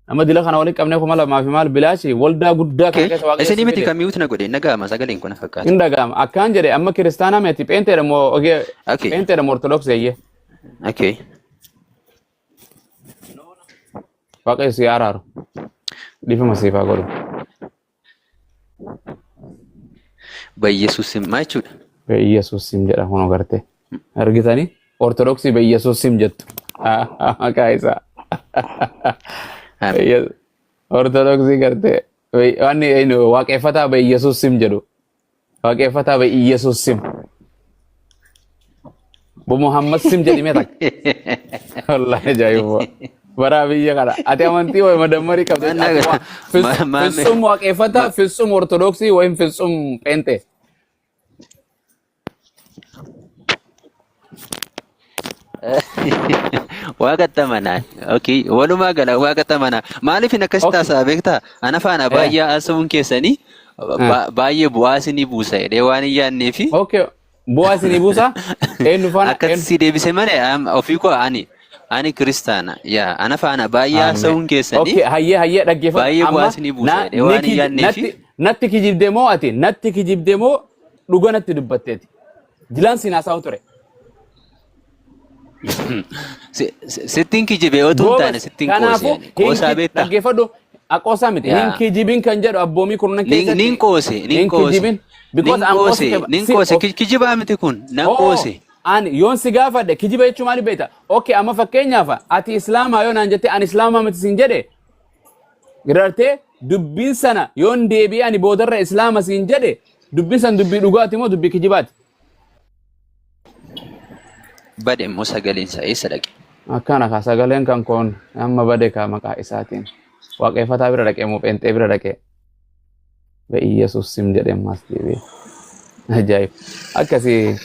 Nama dila kana walitti qabnee kuma lamaa fi maal bilaashi waldaa guddaa kana keessa waaqayyo Isin si miti fide. kan mi'uutu na godhe na gaama sagaleen kun na fakkaata. Hin dhaga'ama. Akkaan jedhe amma kiristaanaa miti pheenteedha moo ogee Okay. pheenteedha moo ortodoksii eeyyee. Okay. Waaqayyo si haa araaru. Dhiifama siif haa godhu. Bayyesuus sim maa jechuudha? Bayyesuus sim jedha kun agartee. Argitanii? Ortodoksii Bayyesuus sim jettu. Maqaa isaa. Ortodoksii gartee. Wanni waaqeffataa Bayyesuus sim jedhu. Waaqeffataa ba'e Iyyasuus sim. Bu Muhammad sim jedhimee takka. Wallaahi ajaa'iba. Baraa biyya kana. Ati amantii wayi madammarii qabda. Maal Ati waa- nagaa- fis- ma- maame- Fitsum waaqeffataa, fitsum ortodoksii wayin fitsum pheenxee. Waaqa tamanaa. Okay. Walumaa gala waaqa tamanaa. Maaliif hin akkasitti Okay. haasa'a beektaa? Ana faana Eh. baay'ee haasa'uun keessanii Eh. ba- baay'ee bu'aa isinii buusa jedhee waan hin yaadnee fi Okay. Bu'aa isinii buusa. Eenyu faana? akkatti Eenyu? si deebise malee am- ofii koo ani ani kiristaana yaa ana faana baay'ee Amen. haasa'uun keessanii Okay. Hayyee hayyee dhaggeeffadhu. Baay'ee Amma bu'aa isinii buusa na- jedhee ni waan hin kij- yaadnee fi- natti- Natti kijibde moo ati? Natti kijibde moo dhuga natti dubbatteeti? Dilaan siin haasa'u ture. Si- si- Sittiin kijibee otuu hin taane Goobas. sittiin Kanaafuu qoosee ani. Qoosaa hin beektaa? dhaggeeffadhu. Aqoosaa miti. Yaa. Hin kijibin kan jedhu abboomii kurnan Nin keessatti. nin qoose, nin hin qoose. kijibin. Because Nin I'm also qoose, keba- nin si- qoose. of- Ki- Kijibaa miti kun, nan Oo, qoose. Ani yoon si gaafadhe kijiba jechuun maali beekta? Okay, amma fakkeenyaaf ati islaamaa yoo naan jette ani islaamaa miti siin jedhe Giraartee dubbiin sana yoon deebi'ee ani boodarra islaama siin jedhe dubbiin sana dubbii dhugaati moo dubbii kijibaati? Bade immoo sagaleen isaa eessa dhaqe? Akkana kaa sagaleen kan koon amma bade kaa maqaa isaatiin waaqeeffataa bira dhaqee moo pheenxee bira dhaqee be Iyyasuus sim jedhee ammaas deebi'ee. Ajaa'ib. Akkasii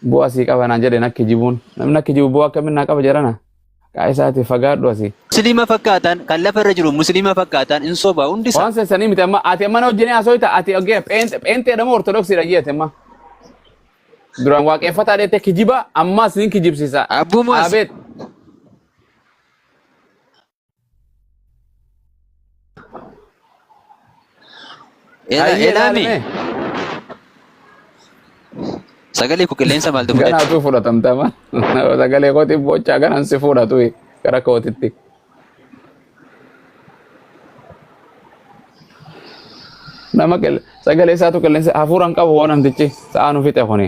Bu'aa sii qaba naan jedhe nakki jibuun. Namni nakki jibu bu'aa akkamii naa qaba jedhana. Haqaa isaati fagaadhu asii. Musliima fakkaataan kan lafa irra jiru musliima fakkaataan hin soba hundi isaa. Waan sessanii miti amma ati amma na wajjin haasoyta ati ogeera pheenxe pheenxeedha moo ortodoksiidha jeete amma. Duraan waaqeffataa dheettee kijibaa ammaas nin kijibsiisa. Abbumas Abeet Ela- Hayyee Elaami. ilaalame. Sagalee koo qilleensa maaltu fudhate? Ganaa utuu fudhatamtama. Sagalee kootiin bochaa ganaan si fudhatu gara kootitti. Nama qil- sagalee isaatu qilleensa hafuuraan qabu hoo namtichi sa'aa nu fixe kuni.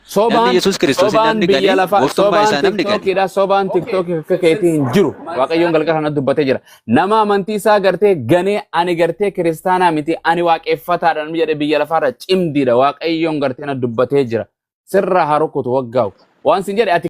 Namni Sobaan Yesuus Kiristoosiin sobaan namni biyya galee lafaa gooftummaa sobaan isaa namni galee. tiktokiidha sobaan tiktokii akka keetii hin jiru waaqayyoon galgala kana dubbatee jira nama amantii isaa gartee ganee ani gartee kiristaanaa miti ani waaqeffataadha namni jedhe biyya lafaarra cimdiidha waaqayyoon gartee na dubbatee jira sirraa haa rukutu waggaa'u waan sin jedhe ati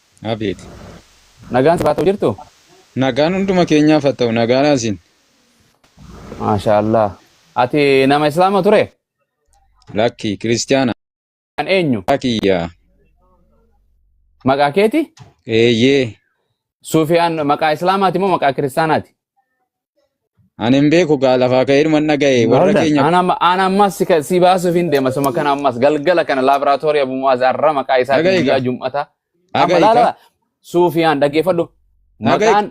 Abeet. Nagaan siif haa ta'u jirtu? Nagaan hunduma keenyaaf haa ta'u nagaadhaa isin. Maashaa Allah. Ati nama Islaama ture? Lakki kiristiyaana. Kan eenyu? Maqaa kiyya. Maqaa keeti? Eeyyee. Suufiyaan maqaa Islaamaati moo maqaa kiristaanaati? Ani hin beeku gaa lafaa ka'ee dhuman dhaga'e warra Bahudan, keenya ana amma- ana ammas si ka- si baasuuf hin deema suma kana ammas galgala kana laaboraatoorii Abu Mu'aaz arra maqaa isaa Dhaga'i guyyaa gaa. jum'ata amma Dhaga'i laala gaa. suufiyaan dhaggeeffadhu Dhaga'i. maqaan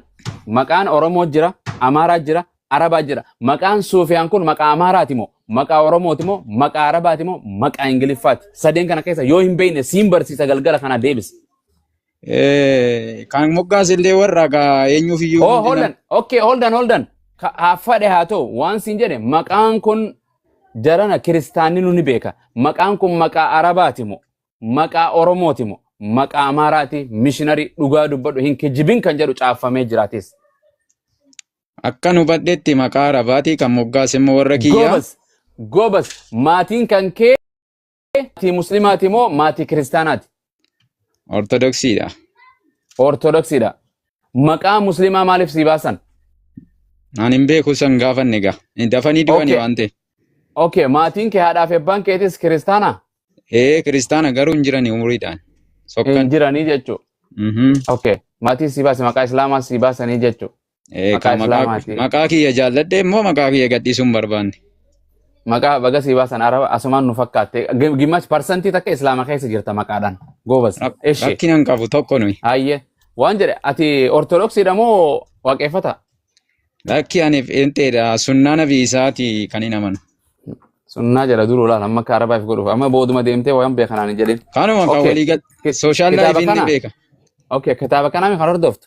maqaan Oromoo jira Amaaraa jira Arabaa jira maqaan suufiyaan kun maqaa Amaaraati moo maqaa Oromooti moo maqaa Arabaati moo maqaa Ingiliffaati sadeen kana keessa yoo hin beekne siin barsiisa galgala kana deebisa Eh, Kan moggaase illee warra gaa eenyuuf iyyuu Oh, hundi hold nama. on. Okay, hold on, hold on. Ka- Haa fadhe haa ta'u waan siin jedhe maqaan kun jarana kiristaanni nu ni beeka. Maqaan kun maqaa Arabaati moo? Maqaa Oromooti moo? Maqaa Amaaraati mishinarii dhugaa dubbadhu hin kijibin kan jedhu caaffamee jiraatis. Akkan hubadhetti maqaa Arabaatii kan moggaase immoo warra kiyyaa. Goobas, goobas maatiin kan kee Maatii muslimaati moo maatii kiristaanaati? Ortodoksiidha. Ortodoksiidha. Maqaa muslimaa maaliif sii baasan? An hin beeku san gaafanne gaa. Dafanii du'ani Okay. waan ta'e. Okay, maatiin kee haadhaa fi abbaan keetis kiristaana? Ee kiristaana garuu hin jirani umuriidhaan. Hin Sokkan. jiranii jechuu. Mhm. Okay, maatiin sii baase maqaa islaamaa sii baasanii jechuu. Eh, Maqaa kan maqaa Islaamaati. maqaa kiyya jaalladhe immoo maqaa kiyya gadhiisuu hin barbaanne. Maqaa baga sii baasan araba asumaan nu fakkaatte. Gim- Gimmash parsantii takka islaama keessa jirta maqaadhaan. Goobas. Rak- Eshi. Rakkina hin qabu tokko nuyi. Hayyee. Waan jedhe ati ortodoksiidha moo waaqeffata? Lakki ani feenteedha sunnaa nabi isaati kan hin amanu. Sunnaa jala duruu laal amma akka arabaaf godhuuf amma booduma deemtee waan beekanaan hin jedhin. Kanuma kan Okay. walii gal Ki- sooshaal kitaaba laayifiin ni kana? beeka. Okay, kitaaba kanaa kan hordoftu.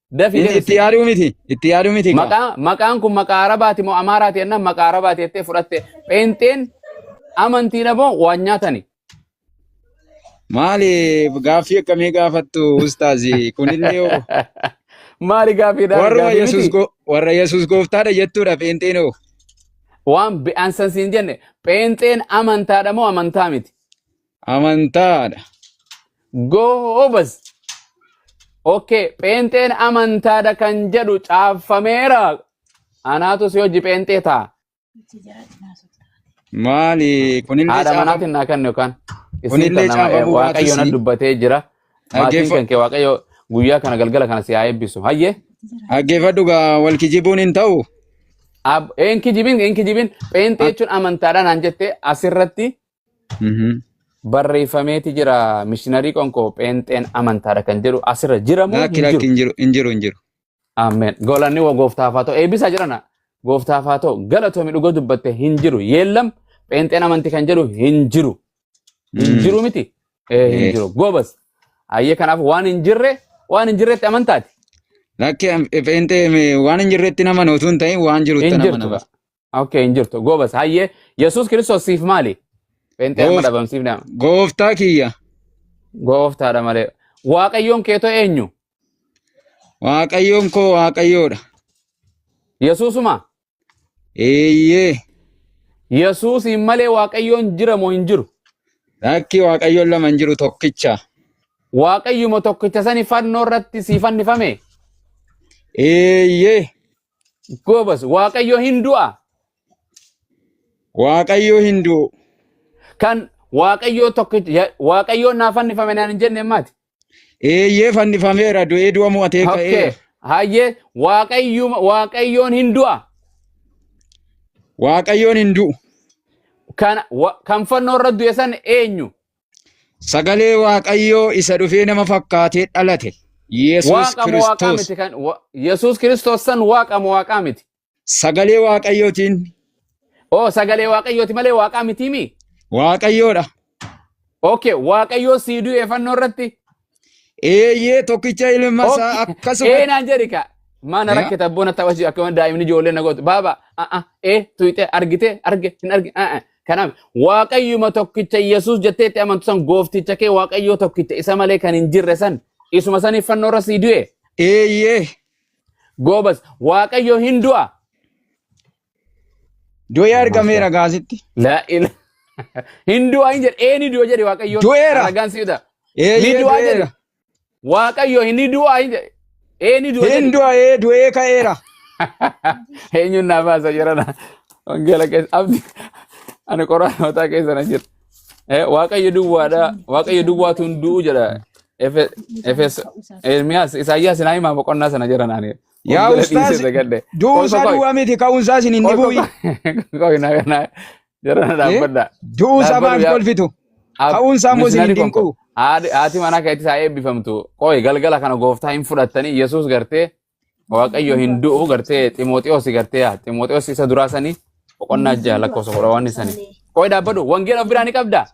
Dafi Inni itti deebisi. yaaduu miti. Itti yaaduu miti kaa. Maqaa maqaan kun maqaa Arabaati moo Amaaraati jennaan maqaa Arabaati jettee fudhatte. Pheenxeen amantiidha moo waan nyaatani? Maali gaaffii akkamii gaafattu ustaazi kunillee hoo? Maali gaafii daafii warra gaafii Yesuus miti? go- warra Yesuus gooftaadha jettuudha pheenxeen hoo. Waan be'ansan siin jenne pheenxeen amantaadha moo amantaa miti? Amantaadha. Goobaz. Okay, pheenxeen amantaadha kan jedhu caaffameera. Anaatu si hojii pheenxee ta'a. Maali kunillee Haadha caafame. manaatiin naa kennu yookaan isin Kunillee kana caafamuu waaqayyoon baatus nan dubbatee jira. Maatiin dhaggeeffa- kan kee waaqayyo guyyaa kana galgala kana si haa eebbisu. Hayyee. dhaggeeffadhu gaa wal kijibuun hin ta'u. Ab- Een kijibin, een kijibin. Pheenxee jechuun amantaadha naan jette asirratti Mhm. barreeffameeti jira mishinarii qonkoo pheenxeen amantaadha kan jedhu asirra jira moo Laakki hin laakki jiru hin jiru hin jiru hin jiru. ameen golanni wa gooftaaf haa ta'u eebbisaa jirana gooftaaf haa ta'u galatoomi dhuga dubbatte hin jiru yeellam pheenxeen amanti kan jedhu hin jiru hin Mm. jiru miti ee hin Eh. jiru goobas ayyee kanaaf waan hin jirre waan hin jirretti amantaati Laakki am- pheenxee me- waan hin jirretti nama utuu hin ta'in waan jirutti hin nama jirtu nama. gaa Okay, hin jirtu. Goobas. Hayyee. Yesuus Kiristoos siif maali? Pheenxee amma Goof- dhabamsiifne amma. Gooftaa kiyya. Gooftaadha malee. Waaqayyoon keetoo eenyu? Waaqayyoon koo Waaqayyoodha. Yesuusuma. Eeyyee. Yesuusiin malee Waaqayyoon jira moo hin jiru? Lakki Waaqayyoon lama hin jiru tokkicha. Waaqayyuma tokkicha sani fannoo irratti sii fannifame. Eeyyee. Goobas, Waaqayyo hin du'a. Waaqayyo hin du'u. Kan Waaqayyoo tokkichi, ya- Waaqayyoon naa fannifame naan hin jenne maati. Eeyyee fannifameera du'ee du'a mo'atee Okay. ka'eera. Hayyee, Waaqayyuma, Waaqayyoon hin du'a. Waaqayyoon hin du'u. Kan, wa, kan fannoo irra du'e san eenyu? Sagalee Waaqayyoo isa dhufee nama fakkaatee dhalate. Yesuus Waaqa moo waaqaa Kiristoos. miti kan wa- Yesuus Kiristoos san waaqa moo waaqaa miti? Sagalee Waaqayyootiin Oo sagalee waaqayyooti malee waaqaa mitiimi? Waaqayyoodha. Okay, waaqayyoo sii du'e fannoo irratti Eeyyee tokkicha ilma isaa Okki. akkasuma Ee naan jedhi ka. Maana Yaa. rakkata boona tapha si akkuma daa'imni ijoollee na gootu. Baaba a'a ee tuyxe argite arge hin arge a'a. Kanaaf waaqayyuma tokkicha Yesuus jettee itti amantu san goofticha kee waaqayyoo tokkicha isa malee kan hin jirre san isuma saniif fannoo irra sii du'e. eeyyee Goobas waaqayyoo hin du'a. Du'ee Masha. argameera gaasitti. Laa ila. Hin du'a hin jedhe. Ee ni du'a jedhe Waaqayyoon. Du'eera. Ragaan si fida. Ni Eeyyee du'a jedhe. du'eera. Waaqayyo hin ni du'a hin jedhe. Ee ni du'a Hin jedhe. du'a ee du'ee ka'eera. Eenyuun naaf haasa jirana. Wangeela keessa abdi. Ani qoraan mataa keessa na jira. Eh, Waaqayyo duwwaadha. Waaqayyo duwwaatu hin du'u jedha. Efe- Efes Ermiyaas Isaayyaas naa himaa boqonnaa sana jira naani. Yaa Fuuldura dhiisee ustaaz dagadde. du'uun Qoy isaa qoy duwwaa miti ka'uun isaa isin hin qoy qoy dhibuuyi. qoy na na jara na Eh? dhaabbadha. Du'uu isaa Dhaabbadhu maaf yaa kolfitu? ab Ka'uun isaa immoo isin hin misnari konko. dinquu. Haati haati manaa keetti isaa eebbifamtu. Qoy galgala kana gooftaa hin fudhattanii Yesuus gartee Waaqayyo hin du'u gartee Ximooxiyoos gartee yaa Ximooxiyoos isa duraa sanii boqonnaa ja'a lakkoofsa kudha waan sanii. Qoy dhaabbadhu wangeela of biraa ni qabda.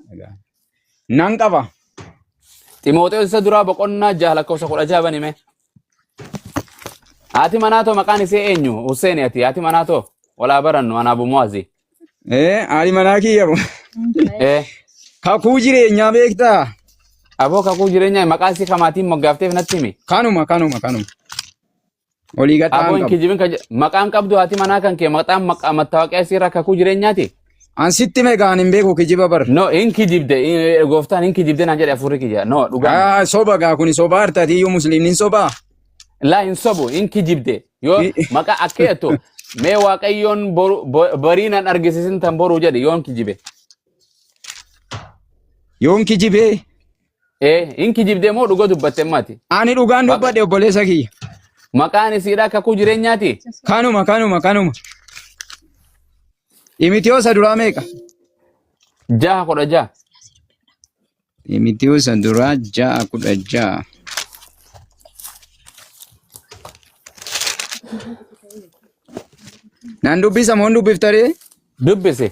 Nan qaba. Ximooxeos isa duraa boqonnaa jaha lakkoofsa kudha jaha banime. Haati manaa too maqaan isee eenyu? Hussein ati haati manaa too walaa barannu anaa bumuwazi. Eh, haadhi manaa kiyya bo. Eh, Kakuu jireenyaa beektaa? aboo kakuu jireenyaa maqaa isii kamaatiin moggaafteef natti himi. Kanuma, kanuma, kanuma. Olii gad Aboo ta'an hin qabu. kijibin kan jedhu. Maqaan qabdu haati manaa kan kee maqaan maqaa mattaawaqaa isii irraa kakuu jireenyaati. An sitti meeqaan hin beeku kijiba bar. No hin kijibde eh, gooftaan hin kijibde naan jedhe afurri kiyya. No dhugaa. Ah, soba gaa kuni soba hartati iyyuu musliimni soba. Laa hin sobu hin kijibde. Yoo maqaa akka jettu mee waaqayyoon boru- bo- barii nan argisiisin tan boruu jedhe yoo hin kijibe. Yoon kijibee Ee hin kijibdee moo dhuga dubbatte maati? Ani dhugaan Maqa- dubbadhe obboleessa kiyya. Maqaan isiidhaa kakuu jireenyaati. Kanuma kanuma kanuma. Imitiyoosa duraa meeqa? Jaha kudha jaha. Imitiyoosa duraa ja'a kudha ja'a. Nan dubbisa moo hin dubbiftaree? Dubbise.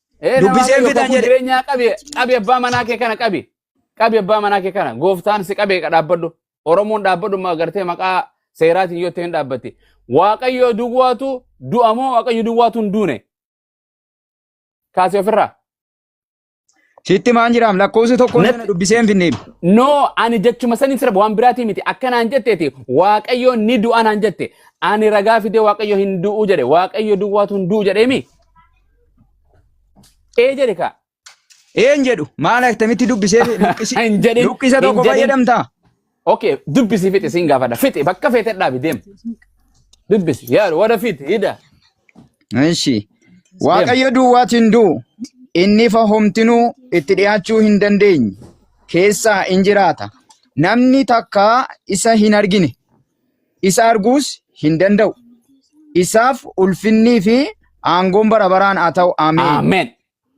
Ee nama Dubbisee waaqayyo fidan kakuu jedhe. jireenyaa qabi qabi abbaa manaa kee kana qabi qabi abbaa manaa kee kana gooftaan si qabee dhaabbadhu oromoon dhaabbadhu ma gartee maqaa seeraatiin yoo ta'e hin dhaabbatti waaqayyo duwwaatu du'a moo waaqayyo duwwaatu hin duune kaasee ofirraa Sitti maan jiraam lakkoofsi tokko Natti- sana dubbisee hin finneem. noo ani jechuma sanii sirba waan biraatii miti akkanaan jetteeti waaqayyo ni du'a naan jette ani ragaa fidee waaqayyo hin du'u jedhe waaqayyo duwwaatu hin du'u jedheemi Ee jedhe kaa. Een jedhu maal akkamitti dubbisee luqqisi Hin jedhin, luqqisa hin tokko jedhin. fayyadamtaa? Okay, dubbisi fixi siin gaafadha. Fixi bakka feete dhaabi deem. Dubbisi yaa warra fixi hidha. Ishi. Waaqayyo duwwaatu hin du'u. Inni ifa homtinuu itti dhiyaachuu hin dandeenye. Keessaa in jiraata. Namni takka isa hin argine. isa arguus hin danda'u. Isaaf ulfinnii fi aangoon bara baraan haa ta'u. Ameen. Ameen.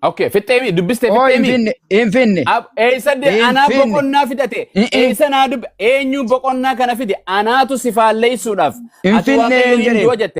Okay, fixxeemi dubbiste Oo hin fixxeemi. finne, hin finne. Ab- Eessa de Hin anaa finne. boqonnaa fidate. Mm, mm. Eessa naa dubbe. Eenyu boqonnaa kana fide. Anaatu si faalleessuudhaaf. Hin Ati finne waaqayyo hin hin jedhe. du'a jette.